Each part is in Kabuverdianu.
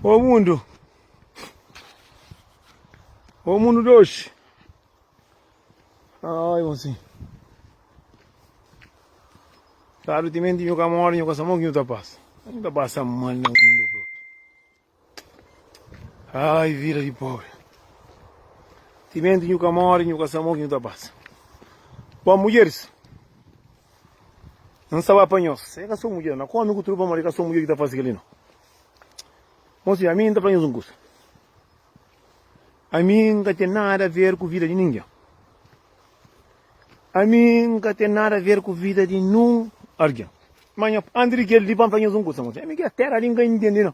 Ô mundu Ô mundu de oxi Ai monsi Tá do timenti nhu ka mora nhu ka sa mon ki nhu ta pasa Nhu ta pasa mal na mundu bro Ai vida di pobre Timenti nhu ka mora nhu ka sa mon ki nhu ta pasa Bom mudjeris N sa ba panhos. É ka so mudjer. Na kómi ku tudu pamodi é ka so mudjer ki ta fase kel-li no. Mon senhor, ami N ta fla nhos un kusa. Ami N ka ten nada ver ku vida di ningen. Ami N ka ten nada ver ku vida di nun argen. Ma nha, anti di kel-li pa N fla nhos un kusa, mon senhor. Ami kel téra li N ka intende no.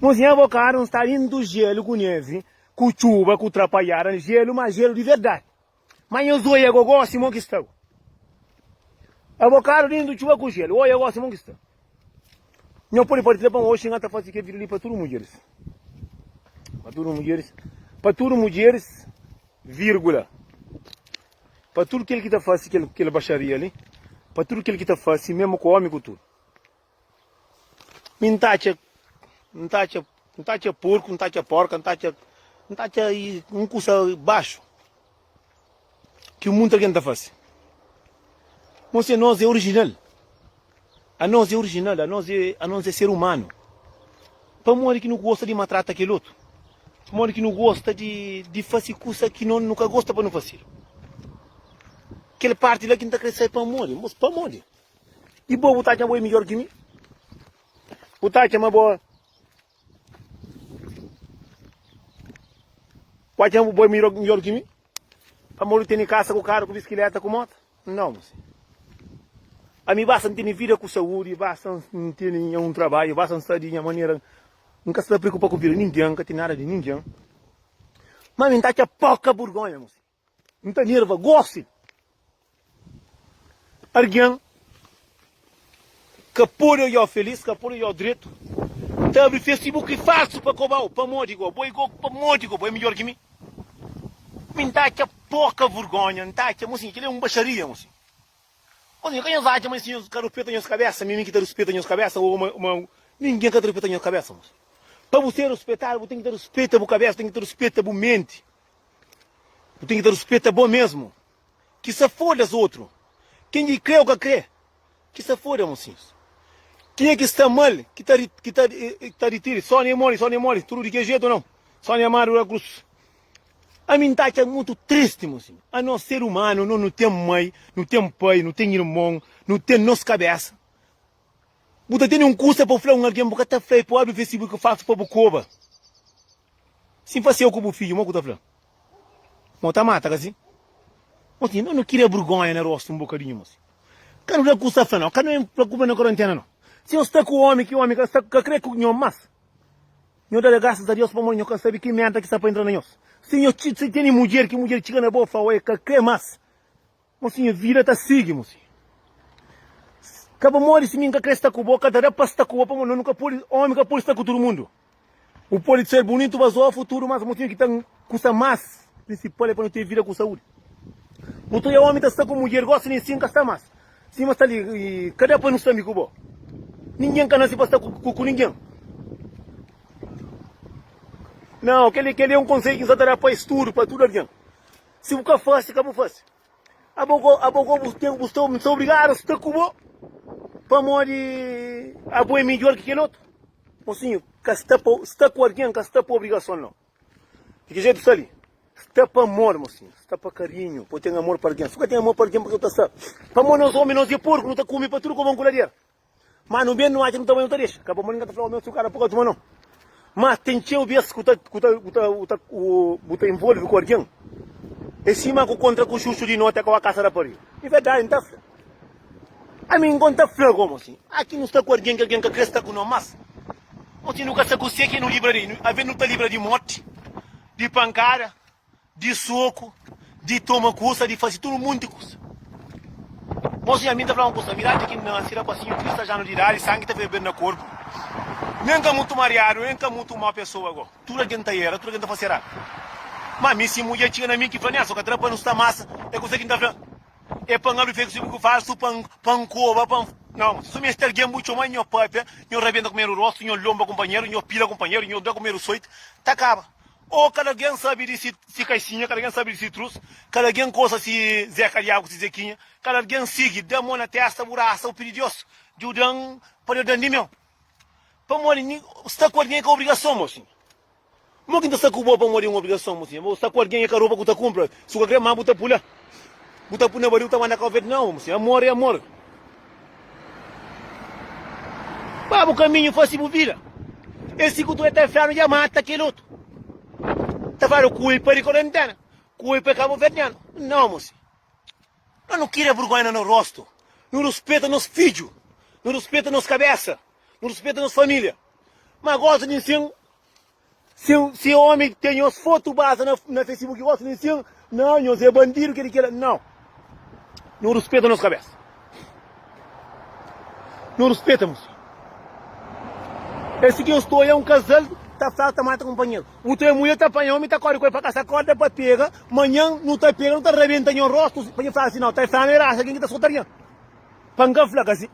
Mon senhor, bo karu N sta dintu jélu ku névi, ku txuba, ku trapalhada, jélu, ma jélu di verdadi. Ma nhos oi agogó simon ki sta Abokadu dentu di txuba ku jelu Oi agó simon ki sta Nho podi partilha pon oxi Nha ta fase kel video li pa tudu mudjeris Pa tudu mudjeris Pa tudu mudjeris Vírgula Pa tudu kel ki ta fase kel kel baxaria li Pa tudu kel ki ta fase memu ku omi ku tudu Mi N ta atxa N ta atxa N ta atxa porku N ta atxa porka N ta atxa N ta atxa un kusa baxu ki munta algen ta fase mos se nos é orijinal a nos é orijinal a nos é a nos é ser umanu pamodi ki nu gosta di matrata kel otu pamodi ki nu gosta di di fase kusa ki no nu ka gosta pa nu fasedu kel parti la ki N ta kre sai pamodi mos pamodi. E bo, bu ta atxa ma bo é midjór ki mi? Bu ta atxa ma bo. Bu atxa ma bo é midjór ki mi? Pamodi tene kasa, ku karu, ku biskiléta, ku móta? Nau, mon senhor. Ami basta N tene vida ku saúdi, basta N tene nha un trabadju, basta N sta di nha manera. N ka sta preokupa ku vida di ningen, N ka tene nada di ningen. Ma ami N ta atxa poka burgonha, mon senhor. N ta nerva gósi. Argen ka pode odja-u felís, ka pode odja-u dretu. N ta abri Facebook falsu pa koba-u. Pamodi go? Bo é go? Pamodi go? Bo é midjór ki mi? Mi N ta atxa poka vergónha. N ta atxa ma, sin, kel-li é un baxaria, ma, sin. Ma, sin, ka nhos atxa ma es nhos ka ruspeta nhos kabésa? Mi é mi ki ta ruspeta nhos kabésa? Ô, ma, ma, ningen ka ta ruspeta nhos kabésa, ma, sin. Pa bu ser ruspetadu, bu ten ki ta ruspeta bu kabésa, bu ten ki ta ruspeta bu menti. Bu ten ki ta ruspeta bo mesmu. Ki sa foda-s otru. Ken ki kre o ka kre, ki sa foda mosinhus. Kenha ki sta mal ki ta ri ki ta ki ta ritiri. Sónia e Móris, Sónia e Móris, tudu di kel jetu nau? Sónia Amadu da Cruz. Ami N ta atxa mutu tristi, mosinhu. Anos ser umanu, nos nu ten mai, nu ten pai, nu ten irmon, nu ten nos kabésa. Bu ta tene un kusa pa fla un algen, bu ka ta fla el pa obi vestibu ki falsu pa bu koba. Si N fasieu ku bu fidju, mo ku ta fla? Mo ta mata, kasi? Osi, no no kria burgonha na rostu un bokadinhu gosi. Ka no fla ku sta fla no, ka no e fla ku bna korantena no. Si no sta ku omi, ki omi ka sta ka kre ku nho mas. Nho da da grasas a Dios pamodi nho ka sabi ki merda ki sta pa intra na nhos. Si nho txi, si tene mudjer, ki mudjer txiga na bo fla, oe, ka kre mas. Mo si nha vida ta sigi mo si Ka ba modi si mi nka kre sta ku bo Ka ta da pa sta ku bo pamo no nu ka podi Omi ka podi sta ku tudu mundu Bu podi ser bunitu mas o futuru mas Mo tinha ki ta kusa mas Prinsipal e pa nu ten vida ku saudi Bu ta oia omi ta sta ku mudjer Gosi ni si nka sta mas si ma sta li Ka da pa nu sta mi ku bo Ninguen ka nasi pa sta ku ninguen Nau keli keli e un konsei ki N sa ta da pa es tudu pa tudu alguen. Si bu ka fase, ka bu fase. Abogó, abogó bu ten, bu sta, m'sta obrigadu sta ku bo, pamodi abo é midjor ki kel otu. Mosinhu, ka sta pa, sta ku algen ka sta pa obrigason no. Di ki jetu sta li? Sta pa amor, mosinhu, sta pa karinhu, pa bu ten amor pa algen. Si bu ka ten amor pa algen, pa ki bu ta sta? Pamodi nos omi, nos é porku, nu ta kume pa tudu koba un kuladiera. Má nu ben, nu atxa nu ta bai, nu ta dexa. Ka bo ma ningen ta fla, Ome, N txu kada pa ka txoma no. Má ten txeu bês ku ta, ku ta, ku ta, ku ta, ku bu ta involve ku algen, é sima ku kontra ku xuxu di noti, akoba kasa rapariga. É verdadi, N ta fla. Ami nko, N ta fla gomo si, aki nu sta ku algen ki algen ka krê sta ku no más. Noti nu ka sta ku se ki nu libra di, alvês nu ta libra di moti, di pankada, Di soku, di toma kusa, di fase tudu un monti kusa. Mosu Yamin ta fla un kusa, Miradi ki N na sira pasinhu trisas anu di idadi, sangi ta ferbedu na korpu. Mi N ka mutu mariadu, N ka mutu un mau pesoa go. Tudu algen ta era, tudu algen ta fase eradu. Ma mi, si un mudjer txiga na mi ki fla, N asa, N ka tra pa nu sta masa. É kusa ki N ta fla, É pa N alu fegi subi ku falsu, pa N pa N koba, pa N. Nau, ma si suma este algen bu txoma, nho papia, nho rabienta ku meru rostu, nho lomba kunpanheru, nho pila kunpanheru, nho da ku meru soiti, ta kaba. Ô kada gen sabe di si kaixinha, kada gen sabe di si trus, kada gen kosa si Zeka di agu, si Zekinha, kada gen sigi, da mo na testa bu rasa, bu pidi Dios djudan pa Dios dan di meu. Pamodi nhi sta ku algen ka obrigason, mo sinha. Mo ki nta sta ku bo pamodi un obrigason, mo sinha. Bo sta ku algen e ka roba ku ta kumpra, si bu ka kre ma bu ta pula, bu ta puna bariu ta manda ka oveja di novu, mo sinha. Amor e amor. Ba bu kaminhu fase bu vida Es si ku tu eta infiernu dja mata kel otu Ta fala kulpa di korentena Kulpa e kabuverdianu Nau mose No no kira burgonha na no rostu No ruspeta nos fidju No ruspeta nos kabesa No ruspeta nos familia Ma gosi di nsin Si si omi ten nhos fotu baza na na Facebook i gosi di sin, na nhos é bandidu kel i kel. Nau. Nu ruspeta nos kabesa. Nu ruspeta nos. Esi ki nhos ta oia un kazal ta fla ta mata kunpanheru. Utu é mulher ta panha omi ta kori ku el pa kasa korda pa pega, manhan nu ta pega nu ta rabenta nhos rostu pa nhos fla si nau ta fla nu é rasa algen ki ta skotarnha. Pa nka fla ka si.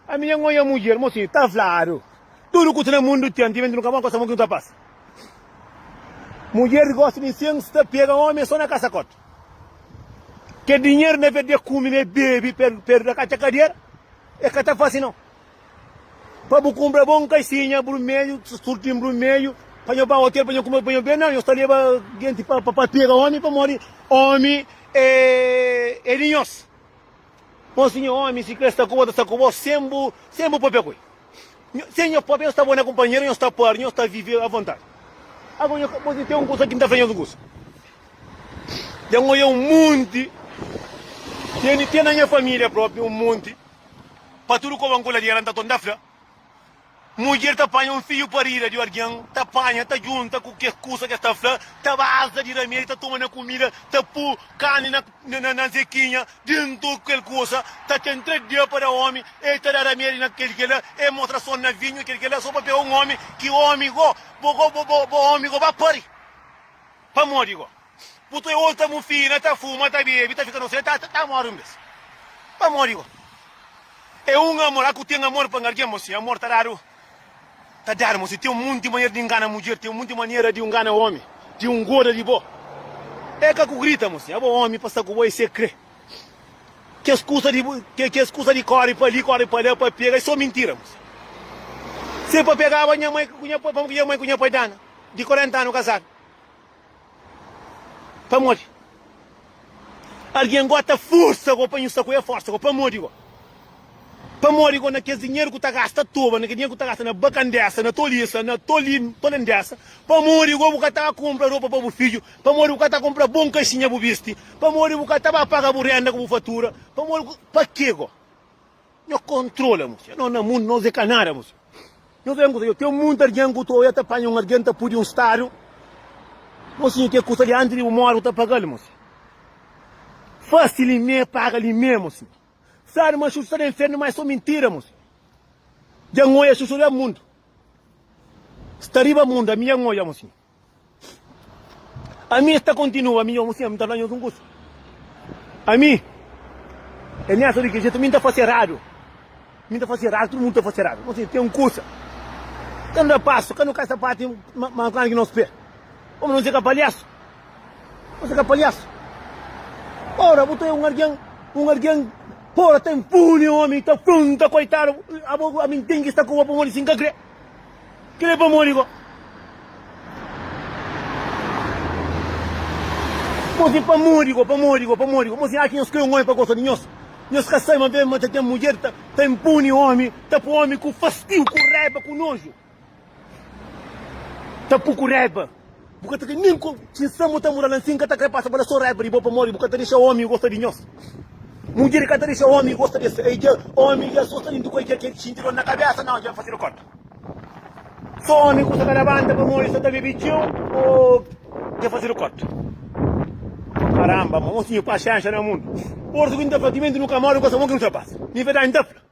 Ami nha nhoia mudjer mo si ta fladu tudo ku ta na mundo ten ti vento nu ka bon kosa mo ki nu ta pasa mudjer gosta di incenso ta pega homi é so na kasa kota ke dinher na verde kumi ne bebi per perda ka tcha kadera e ka ta fasi no pa bu kumbra bon kaisinha brumelho surtin brumelho pa nho ba hotel pa nho kume pa nho bebe na nho sta leba genti pa pega homi pamodi homi é é di nhos. Ó Sinhor, ómi si krê sta ku bo, ta sta ku bo sen bu sen bu pâpia ku el. Nho, sen nho pâpia, nho sta bon na kunpanheru, nho sta pâr, nho sta vive avontadi. Ago nho ka pode ten un kusa ki N ta fla nhos un kusa. Dja N odja un monti, ten ten na nha família propi un monti, pa tudu koba N kula di el, N ta torna ta fla, Mudjer ta panha un fiu parida di algen, ta panha, ta djunta ku kes kusa ki es ta fla, ta basa di ramedi, ta toma na kumida, ta pô karni na zekinha dentu di kel kusa, ta ten três dia pa da omi, el ta da ramedi na kel kela, el mostra son na vinhu, kel kela so pa pega un omi, ki omi go, bo go, bo omi go, ba pari, pamodi go. Bu ta oji ta mufina, ta fuma, ta bebe, ta fika nofia, ta ta mori un bes. Pa mori go. É un amor, aku ten amor pa un algen mo si amor ta dadu, ta dadu mo si ten munti manera di ngana mudjer, ten munti manera di ngana omi, di un goda di bo. É ka ku grita mo si abo omi pa sta ku bo é se kre. Kes kusa di ke kes kusa di kori pa li, kori pa la pa pega é so mintira mo si. Se pa pegaba nha mai ku nha pai, pamo ku nha mai ku nha pai dana di 40 anu kazadu. Pamodi? Algen go ta forsa go pa nhu sta ku el? Forsa go pamodi go? Pamodi go na kes dinheru ku ta gasta toba, na kes dinheru ku ta gasta na bakandesa, na tolisa, na toli, tolendesa? Pamodi go bu ka ta ba kunpra ropa pa bu fidju? Pamodi bu ka ta kunpra bon kaxinha bu bisti? Pamodi bu ka ta ba paga bu renda ku bu fatura? Pamodi, pa ke go? Nho kontrola mu fia no na mundu nos e ka nada mu fia Nho vem kusa yo ten muita argen ku ta oia ta panha un argen ta pudi un stadu Mo sinha ke kusa li antis di bu mori bu ta pagal mo sinha Fasi li me paga li me mo sinha Sabe ma xuxu sta na infernu ma e so mintida mo sinha Dja nhoia xuxu riba mundu Sta riba mundu ami dja nhoia mo sinha. Ami es ta kontinua ami nhos ami ta fla nhos un kusa ami é miasa di kel jetu ami ta fase eradu ami ta fase eradu tudu mundu ta fase eradu nhos ten un kusa ka nu da pasu ka nu kai sapati mas klandi ki nos pé omi nhos é ka palhasu nhos é ka palhasu ora bu ta é un algen un algen ora ta inpuni omi ta punta koitadu abo ami n ten ki sta ku bo pamodi si n ka kre. Kel é pamodi go. Bo sen pamodi go, pamodi go, pamodi go. Bo sen aki nhos krê un omi pa gosta di nhos. Nhos ka sai ma ben ma ta ten mudjer ta ta inpuni omi, ta pô omi ku fastiu, ku raiba, ku noju. Ta pô ku raiba. Bu ka ta kre nen ku tinsan bu ta mura la nsin. Ka ta kre pasa bala so raiba di bo pamodi bu ka ta dexa omi gosta di nhos. Mudjer ka ta dexa omi gosta di es. E dja omi dja so sta dintu ku el dja kel xinti dor na kabesa nau dja fasidu kónta. So omi ku sta ta labanta pamodi sta ta bebe txeu oh dja fasidu kónta. Karanba ma nho tinha paxénxa na mundu. Orso ki N ta fla timenti nu ka móre gosta bon ki nu ta pasa. Ni verdadi N ta fla.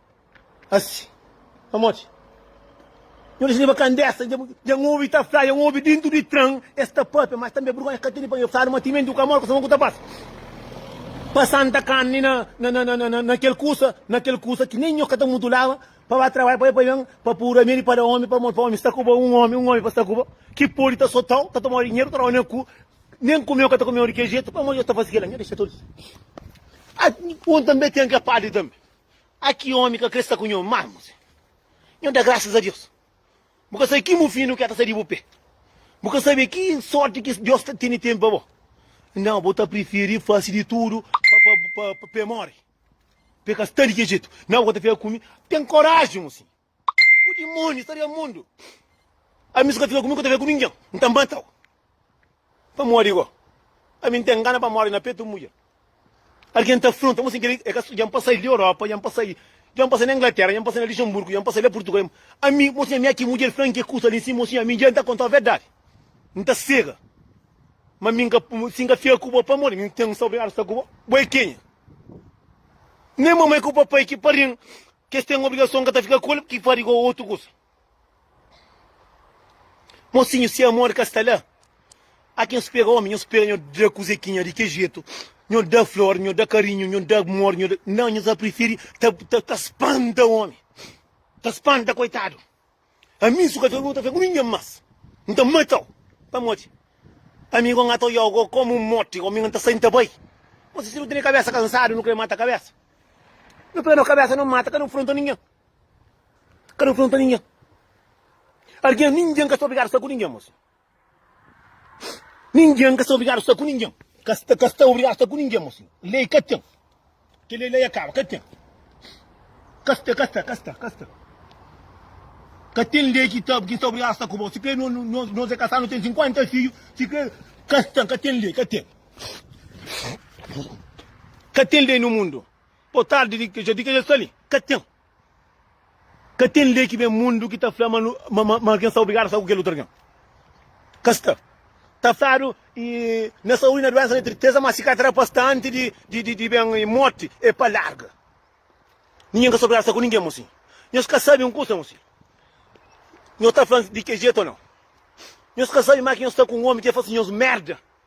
Asi, pamodi? Nhu dexi riba kandesa, dja N obi ta fla, dja N obi dintu di tran es ta pâpia, ma es tanbe burgonha ka tene pa nhos fladu ma timenti bu ka móre, kuzon ku ta pasa? Pa santa karni na kel kusa, na kel kusa ki nen nhos ka ta mutulaba pa ba trabadja pa bai pa ben, pa pura medi pa da ómi, pamodi pa ómi sta ku bo, un ómi, un ómi pa sta ku bo ki pode ta sotau, ta tomau dinheru, ta dau nen ku, nen kumeu ka ta kumeu di kel jetu, pamodi nhos ta fase kel-la? Nhu dexa tudu. Nhu tanbe ten kel padri tanbe. Ah ki omi ka kre sta ku nho mamo zen nho da graças a Deus bu ka sabe ki mufinu ke ta sa di bu pe bu ka sabe ki sorti ki Deus ta tene tene pa bo nao bo ta preferi fasi di tudo pa pa pe mori pe ka sta di ke jetu nao bu ka ta fika ku mi ten coragem mosinho. Ku dimóniu sta den mundu. Ami si ka fika ku mi, ka ta fika ku ningen. N ta mata-u. Pamodi go, ami N ten gana pa móre na petu un mudjer. Algen ta afronta-m asin. Kel-li é ka so dja N pasa-l di Europa, dja N pasa-l dja N pasa-l na Inglatéra, dja N pasa-l na Lixenburgu, dja N pasa-l na Purtugal. Ami, mosinha, ami aki mudjer franka e kusa li. Sin, mosinha, ami dja N ta konta-u verdadi. N ta sega. Má mi N ka, si N ka fika ku bo pamodi mi N ten, N sta obrigadu sta ku bo. Bo é kenha? Nen mamai ku papai ki pari-m Ki es ten obrigason ka ta fika ku el, ki fadi ku otu kusa. Mosinhu, si amor ka sta la, a ki N spera omi, nho spera nho da kuze ki nha di ke jetu, nho da flor, nho da karinhu, nho da amor, nho da. Nau, nho ta prifiri ta spanta omi, ta spanta koitadu. Ami su ka ta luta fe ku ningen mas N ta mata-u pamodi ami Gomi N ta oiau go komu un morti Gomi N ta sai N ta bai Mas si nu tene kabesa kansadu nu kre mata kabesa Nu pega no kabesa nu mata ka nu fronta ningen Ka nu fronta ningen Algen ningen ka ta obrigadu sta ku ningen mas. Ningen ka sta obrigadu sta ku ningen. Ka sta, ka sta obrigadu sta ku ningen, mo sinhor. Lei ka ten. Kel lei la ya kaba, ka ten. Ka sta, ka sta, ka sta, ka sta. Ka ten lei ki ta, ki sta obrigadu sta ku bo. Si kre no, no, nos, nos é kasadu, no ten 50 fiju, si kre. Ka sta, ka ten lei, ka ten. Ka ten lei no mundu. Bo tardi, di, di ke ja sta li. Ka ten. Ka ten lei ki ben mundu ki ta fla ma ma algen sta obrigadu a sta ku kel otu algen. Ka sta. Ta fladu i na saúdi, na duénsa, na tristeza, má si ka ta da pa sta antis di di di ben i morti, e pa larga. Ningen ka sta obrigadu a sta ku ningen mossi. Nhos ka sabe un kusa mossi. Nhos ta fla di ke jetu o nau? Nhos ka sabe ma ki nhos sta ku un ómi ki el fase nhos merda?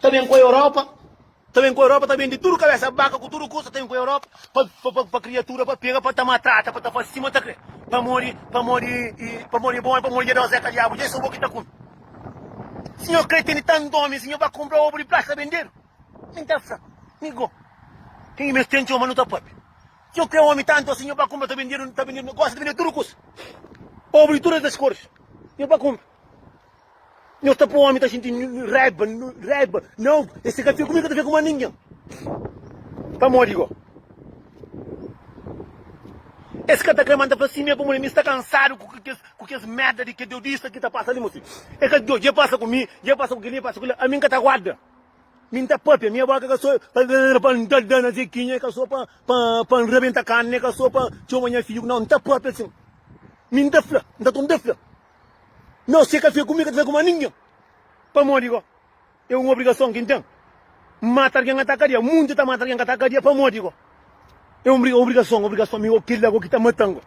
Ta ben ku Europa Ta ben ku Europa Ta ben di tudu kabesa baka Ku tudu kusa Ta ben ku Europa Pa pa pa pa kriatura pa pega Pa ta matrata Pa ta fase sima ta kre Pamodi pamodi i Pamodi i bon i pamodi dja da-u zeka Diabu dja i so bo ki ta kume Si nho kre tene tantu omi si Nho ba kunpra obu di plasta bendedu Mi ta fla Mi go Ke ki mes ten txeu ma nu ta papia Si nho kre omi tantu asi Nho ba kunpra ta bendedu Ta bendedu Gosi ta bendedu tudu kusa Obu di tudu es koris Nho ba kunpra. Nho ta pô-mi ta xinti raiba, raiba. Nau, e si ka fia ku mi, ka ta fia ku más ningen. Pamodi go? Es ka ta krê ma N ta fla simé pamodi mi sta kansadu ku kes mérda di kes deudista ki ta pasa li. Mo si e ka odja, dja pasa ku mi, dja pasa ku kel-li, dja pasa ku kel-li. Ami N ka ta guarda. Mi N ta pâpia. Nha bóka ka sô pa N dal-dal na Zekinha, ka sô pa N rabenta karni, ka sô pa N txoma nha fidju. Nau, N ta pâpia sin. Mi N ta fla, N ta ton ta fla. Nos txê ka fia ku mi, ka ta fia ku más ningen. Pamodi go? É un obrigason ki N ten mata algen ka ta kadia. Munti ta mata algen ka ta kadia. Pamodi go? É un obrigason, obrigason mi go. Kel-la go ki ta mata-m go.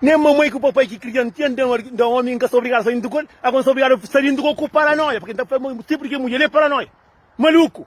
Nen mamai ku papai ki kria-m tinha da omi. N ka sta obrigadu sta dintu ku el. Ago N sta obrigadu sta dintu ku paranóia. Purkê N ta fla ma, si purkê mudjer é paranóia, maluku.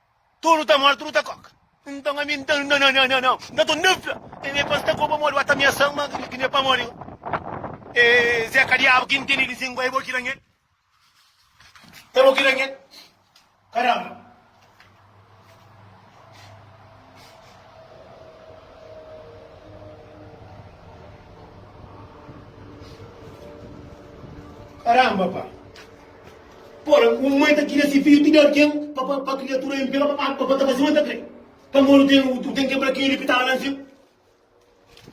Tudu ta mor, tudu ta koka. Nton ami N ta na na na na na N ta tun difla E me pas ta koba modi Ba ta miasan ma ki ne pa mori E Zé ka diabu ki N tene di sin ku e bo ki ranhel E bo ki ranhel Karanba Karanba pa. Ora, un mai ta tira se fidju ti da algen pa pa kriatura inpiel pa pa pa ta fasi un ta kre. Pamodi u ten u ten kebra keli ki tava la ansin.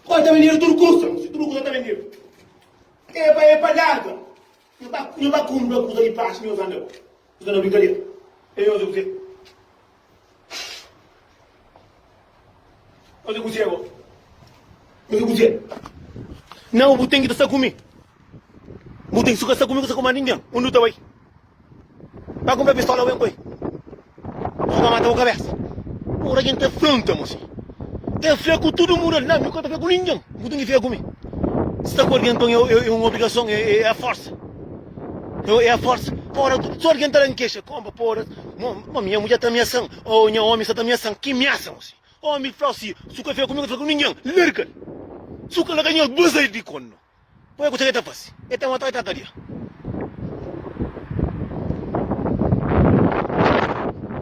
Ora, ta bendedu tudu kusa, si tudu kusa ta bendedu. E pa e pa larga. Nho ta nho ta kumpra kusa di praxi, nho usa na nho usa na brinkadera. E nho usa kuzê? Faze kuzê bo? Faze kuzê? Nau, bu ten ki ta sta ku mi. Bu ten ki ka sta ku mi, ka sta ku más ningen. Undi bu ta bai? Ba kunpra pistola bo, N poi. Bu fika mata bu kabésa. Ora ki N ta fronta mo si, ta fla ku tudu mundu el. Nau, mi ka ta fla ku ningen. Bu ten ki fika ku mi. Si ta kordi, nton é un obrigason, é fórsa. Nho é forsa Pora tudu So algen ta da-m kexa Kónba Pora Mo mo Nha mudjer ta miasa-m Oh nha ómi sta ta miasa-m Ki miasa mo si Ómi fla-u si Su ka fia ku mi ka fla ku ningen Larga-l Su ka la ka nhos baza-l di kónda Bo é kutxa ki el ta fase El ta mata-u el ta kadia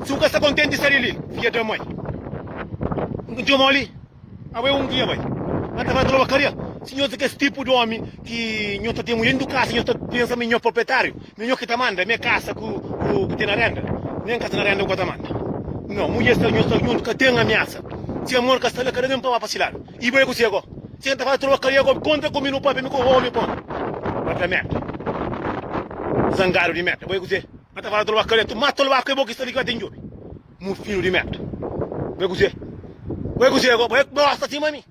Su ka sta kontenti sai di li Fia da mai N txoma-u li. Awe un dia bai na ta fala loba karia si nhos é kes tipu di omi ki nhos ta ten mujer du kasa nhos ta pensa mi nhos proprietariu mi nhos ki ta manda me kasa ku ku ten na renda nen kasa na renda ku ka ta manda no mujer sta nhos sta juntu ka ten amiasa si amor ka sta la ka da ben pa ba pa si ladu i bai ku si ago si na ta fala loba karia ago konta ku mi nu papia mi ku omi po ba ta merda zangadu di merda bai ku si na ta fala loba karia tu mata loba ku e bo ki sta li ki ba ten djobe. Mu fidju di merda. Bai kuzê? Bai kuzê agora? Bai gosta assim mami?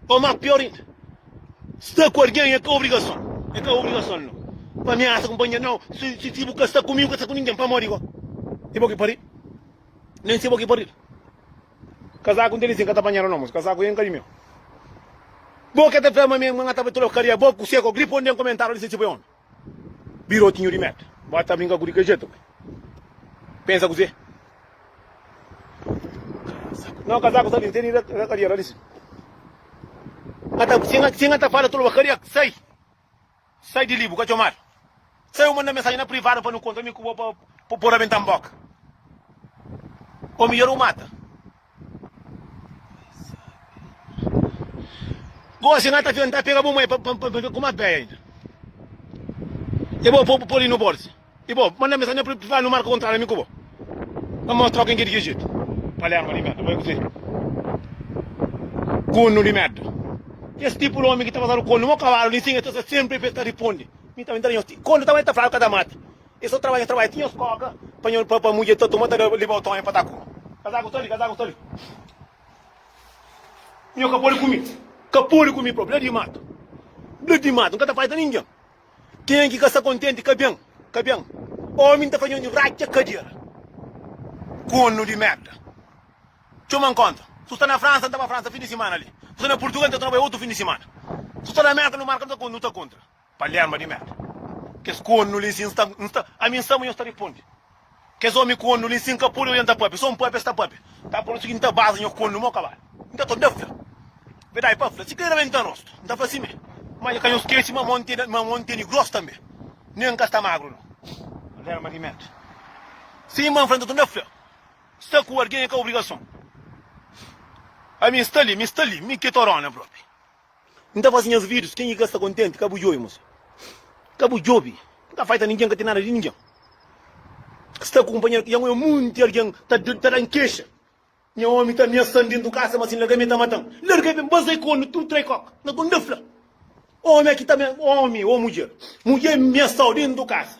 Ou má pior ainda, sta ku alguém é ka obrigason, é ka obrigason no. Pa ameaça companheiro não, si si si bu ka sta kumigu, ka sta ku ninguém pamodi go? É bo ki paridu? Nem se bo ki paridu? Kazaku n'tê li sim, ka ta panhada não, moço, kazaku ê n'ka di meu. Bo ke ta fla ma mi, ma n'ka ta bai trokaria, bo kuzê go? Gripa onde n'komentadu li se ti bo é omi? Birotinho di mérda. Bó ta brinka ku di ke jetu ke? Pensa kuzê? Kazaku. Nau kazaku sta li, tene na kadiera li si. Nha ta, si nha, si nha ta fala toloba kariak, sai! Sai di li, bu ka txomadu. Sai u manda mensaji na privadu pa nu kontra, mi ku bo pa, pa u por rabenta n boka. O midjor u mata. Gosi na ta tenta pega bu mãe pa ver kuma bé ainda. E bo po poli no borsi. E bo manda mensagem pra fala no marca contrato ami ku bo. Pa mos troca em que de que jeito. Palerma de merda, boi kusi. Kunu de merda. Esse tipo de homem que tá passando konu, mo cavalo, nem sim, essa sempre fez tá responde. Mi também tá nem Konu também tá fraco, tá mata. E so trabadja trabadja tinha uns koka panhol pa pa mudje ta toma ta da libao tonha pa ta ku kazaku ta li kazaku ta li nho ka pode kumi ka pode kumi prob bla di matu bla di matu nka ta fadja ta ningen kenha ki ka sta kontenti ka ben ka ben omi nta fadja nho radja kadera konu di merda txoma nkonta su sta na fransa nta ba fransa fin di simana li su sta na purtugal nta toma bai otu fin di simana su sta na merka nu marka nu ta kontra. Pa lenbra di Mary. Kes kornu li si nsta nsta ami nsta ma nhos ta ripondi kes omi kornu li si nka pode oja nta papia so npapia sta papia ta prontu si ki nta baza nhos kornu mo kabal nta to nta fla verdadi pa fla si kre nabenta nho rostu nta fla sime ma dja ka nhos skeci ma mon tene ma mon tene gros tambe ne nka sta magru no. Pa lenbra di Mary. Si ma nfla nta to nta fla sta ku algen e ka obrigason ami nsta li mi sta li mi ke torona propi N ta faze nhas vidus, kenha ki ka sta kontenti ka bu djobe mos. Ka bu djobe, N ka faita ningen, ka ten nada di ningen. Sta ku kunpanheru ki dja ngoia monti algen ta dan kexa. Nha omi ta ameasan dentu kasa ma si N larga-m el ta mata-m. Larga-m pa N baza-i ku el na tudu trai koka, na ku N da fla. Omi, omi ô mudjer, mudjer ameasa-u dentu kasa.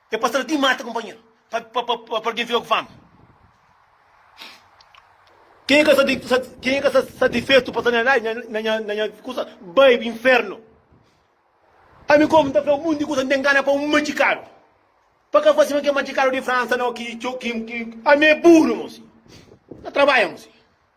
É pa stra di mata kunpanheru pa pa algin fika ku fama. Kenha ka sa kenha ka sa satisfetu pa sa na lai na nha na nha kusa bai pa infernu. Ami komu nta fla un monti di kusa nta ngana pa un majikalu pa ka fasi ma ke majikalu di Fransa no ki ki ami e buru mosi na trabaia mosi.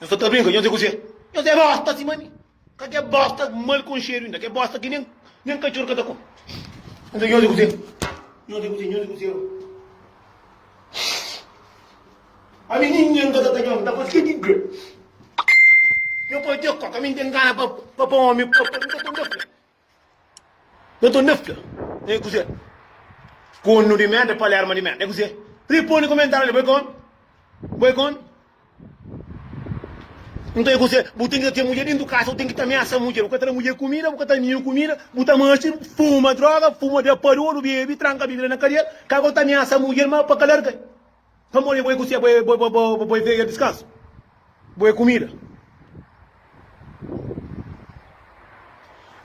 Nhos ka ta brinka, nhos é kuzê? Nhos é bosta sima mi. Ka ke bosta mal konxedu inda, ke bosta ki nen, nen katxor ka ta kome. Nhos é kuzê? Nhos é kuzê? Nhos é kuzê? Ami ningen ka ta ta nhos, nta faze ke ki kre? Nhos pode te koka, mi nten gana pa pa pa omi, pa pa mi ka ta nda fla. Na to nefta é kuzê? Konu di menta, palerma di menta é kuzê? Riponi komentáriu li, bo é kon? Bo é kon? Nton é kuzê? Bu ten ki ta ten mudjer dentu kasa, bu ten ki ta ameasa mudjer, bu ka ta da mudjer kumida, bu ka ta da ninhu kumida, bu ta meste, bu fuma droga, fuma da padudu, bebe, tranka Bíblia na kadera, ka bu ta ameasa mudjer ma pa ka larga-l. Pamodi é bo é ku se, bo é veia diskansu, bo é kumida.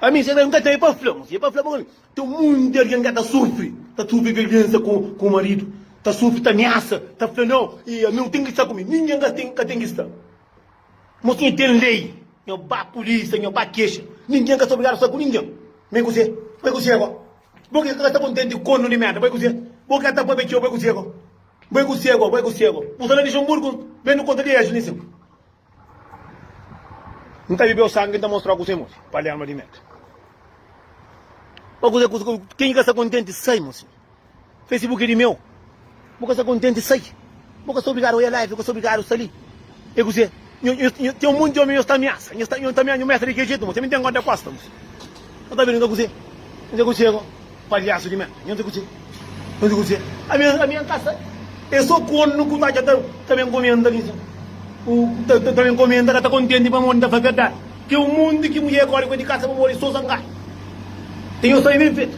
Ami se ka, N ka ten, é pa fla, mosi, é pa fla bo, ten monti di algen ka ta sufri, ta sufri violensa ku maridu, ta sufri, ta miasa, ta fla nau, i ami, N ten ki sta ku mi. Ningen ka ten, ka ten ki sta. Mosi, N ten lei, N ba pulisa, N ba kexa. Ningen ka sta obrigadu sta ku ningen. Ma é ku se, ma é ku se, bo. Bo ki ka ta kontenti kon nu di merda, bai ku se. Bo ki ka ta pabia txeu, bai ku se go. Bai ku se go, bai ku se go. Bu sta na Lixenburgu, ben nu konta di es li sin. N ka bibeu sangi, N ta mostra-u kuzê modi, Palerma di merda. Ba kuzê, kuzê, kuzê, ken ki ka sta kontenti sai, mosinhu. Fesibuki di meu. Bu ka sta kontenti sai. Bu ka sta obrigadu oja live, bu ka sta obrigadu sta li. E kuzê? Nho, ten un monti di omi nhos ta amiasa. Nhos ta, nhos ta amiasa, nhos mete di kel jetu, ma ten mintén kóntra kósta bos. Nhos ta bira, nhos ta kuzê? Nhos ta kuzê ko palhasu di merda? Nhos ta kuzê? Nhos ta kuzê? Ami, ami N ka sta. E so kornu ku ta atxa ta, ta ben komenta mi sin. Ku ta, ta ben komenta ka ta kontenti pamodi N ta fla verdadi. Ten un monti ki mudjer kóre ku el di kasa pamodi so zangadu. Ten nhos ta ben ben fetu.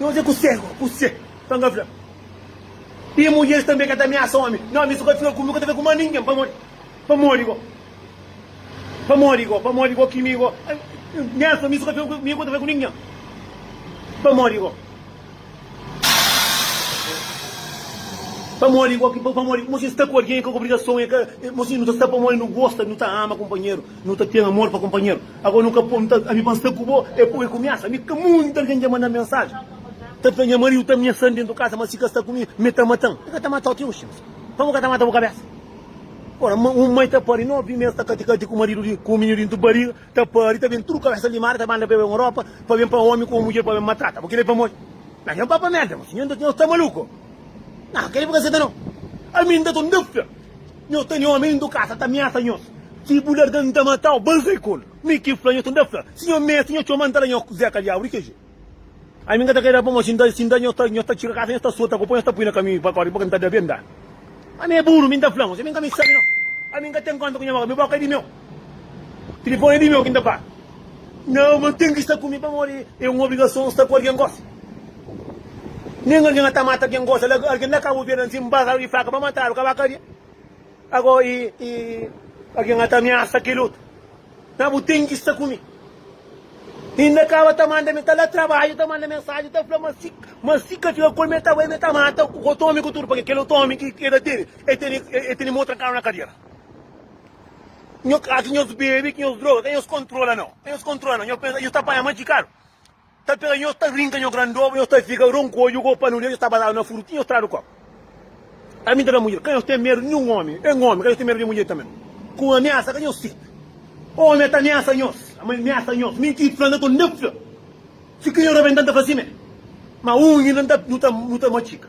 Nhos é ku se go ku se ta nga fla i mudjeris tanbe ka ta ameasa omi no mi su ka fika ku mi ka ta fika ku ma ningen pamodi pamodi go pamodi go pamodi go ki mi go nhas pa mi su ka fika ku mi ka ta fika ku ningen pamodi go pamodi go pamodi mo si sta ku algen ka obrigason e ka mo si nu ta sta pamodi nu gosta nu ta ama kunpanheru. Nu ta ten amor pa kunpanheru. Ago nu ka pô-m ta, ami pa-m sta ku bo, é pô-m é kumiasa. Mi ka munti algen dja manda-m mensaji, ta fla nha mariu ta amiesan dentu kasa, ma si ka sta ku mi, mi é ta mata-m. Mi ka ta mata-u ti oxi, mas pa bu ka ta mata bu kabesa? Ora, ma un mai ta pari novi mes ta kati-kati ku maridu di, ku mininu dentu bariga, ta pari, ta ben tudu kabesa limadu, ta banda peba un ropa, pa ben pa omi ku un mudjer pa ben matrata bu. Kel-li é pamodi? Nah, nha papa merda, mas nho, nho sta maluku? Nah, kel-li bu ka seta nau. Ami inda ta un dafia. Nho ta nho mi ndu kasa ta miasa nho si bu larga nta matau ba zai kol mi ki fla nho ta nda fla si nho mesi nho txoma nta la nho zé kalhau ri kg ai mi nga ta keda pamo si nda si nda nho ta nho ta txira kasa nho ta sota ku po nho ta pui na kamiu pa kori pa nta da benda ami é buru mi nda fla nho si mi nga mi sabi no ami nga ten konta ku nho boka mi boka é di meu. Tilifoni di meu ki n ta bati. Nau, ma n ten ki sta ku mi pamodi é un obrigason sta ku algen gosi. Nen algen ka ta mata algen gosi. Ala ki algen la kaba ovelha ansin, n baza-l di faka pa mata-l, kaba kadia. Ago i, i algen ka ta amiasa kel otu. Nau, bu ten ki sta ku mi. Inda kaba ta manda mi ta la trabadju, ta manda mensaji, ta fla ma si, ma si ka fika ku el, ma e ta bai, ma e ta mata otu omi ku tudu, pabia kel otu omi ki e ta tene, e tene, e tene mô trankadu na kadiera. Nho ka ki nhos bebe, ki nhos droga, ka nhos kontrola no, ka nhos kontrola no, nhos pensa nhos ta panha ma txikadu ta pega nhos, ta rinka nho grandoba, nhos ta fika ronkodju ku opa nu li, nhos ta bazadu na furu ti nhos tradu koba. Ami ta da mudjer, ka nhos ten medu di ninhun omi, N omi, ka nhos ten medu di mudjer tanbe no, ku amiasa ka nhos seta, omi a ta amiasa nhos, ama el miasa nhos, mi N ki fla, N ta ton da fla, si ki nhos rabenta N ta fla simé, ma unhju nu ta, nu ta matxika.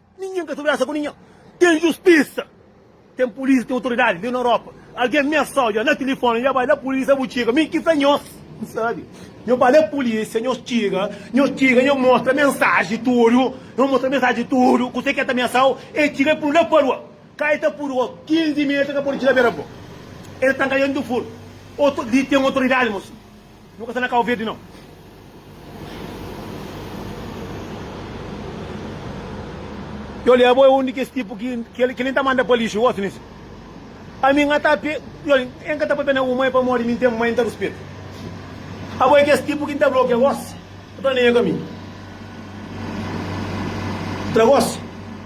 Ninhen ka ta brasa ku ninhen. Ten justisa, ten pulisa, ten otoridadi li na Europa. Algen mesa odja na tilifoni, nha bai la pulisa bu txiga mi ki fla nhos. N sabi. Nho bai la pulisa, nhos txiga, nhos txiga, nho mostra mensaji tudu, nho mostra mensaji tudu kuse ke ta mesau, e txiga e pulu la parua. Ka e ta pulu o 15 meta ka podi txiga bera bo. E ta tanka dentu furu. Li ten otoridadi, mosinhu. Nu ka sta na Cabo Verde não. Yo lé bo é un di kes tipu ki kel kel N ta manda pa lixu gosi nes ami nha ta pe yo N ka ta papia na bu mai pamodi mi N ten mai N ta ruspetu abo é kes tipu ki N ta blokia gosi N ta lenha ka mi tra gosi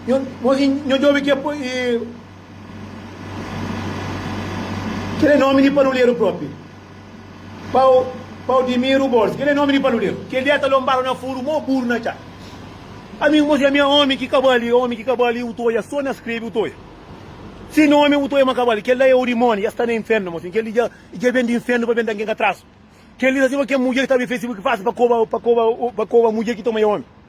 nho nho i nho djobe ke po i kel é nomi di paruleru propi. Pau, Pau Dimiru Borges, kel é nomi di paluderu. Kel dia ta lonbadu na furu, mó buru na txa. Ami mos lamia omi ki ka bali, omi ki ka bali, u ta odja so na skrebe u ta odja. Si nomi u ta odja ma ka bali, kel la é orimoni, dja sta na infernu mos. Kel li dja ben di infernu pa ben da ngen ka trasu. Kel li ta siba kel mudjer ki ta abri Facebook fasil pa koba, pa koba, pa koba mudjer ki toma é omi.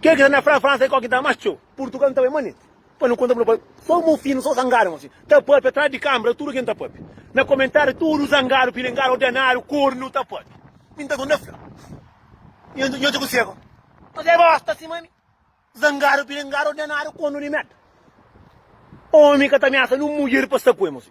Kel ki ta na Fra, Fransa é kó ki ta más txeu. Purtugal n'ta bai manent. Pa nu konta-bu na pa. Só mô finu, sô zangadu mô si. Ta pape atrás di kambra tudu ken ta pape. Na komentariu tudu zangadu, pilingadu, ordenadu, kornu ta pape. Mi n'ta konta Fra. Nho nho dja ku seba. Mas é bosta sima mi. Zangadu, pilingadu, ordenadu, kornu di merda. Omi ka ta miasa nun mudjer pa sta ku el mô si.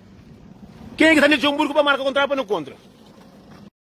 Kenha ki sta na Luxemburgo pa marka kontratu pa nu kontra?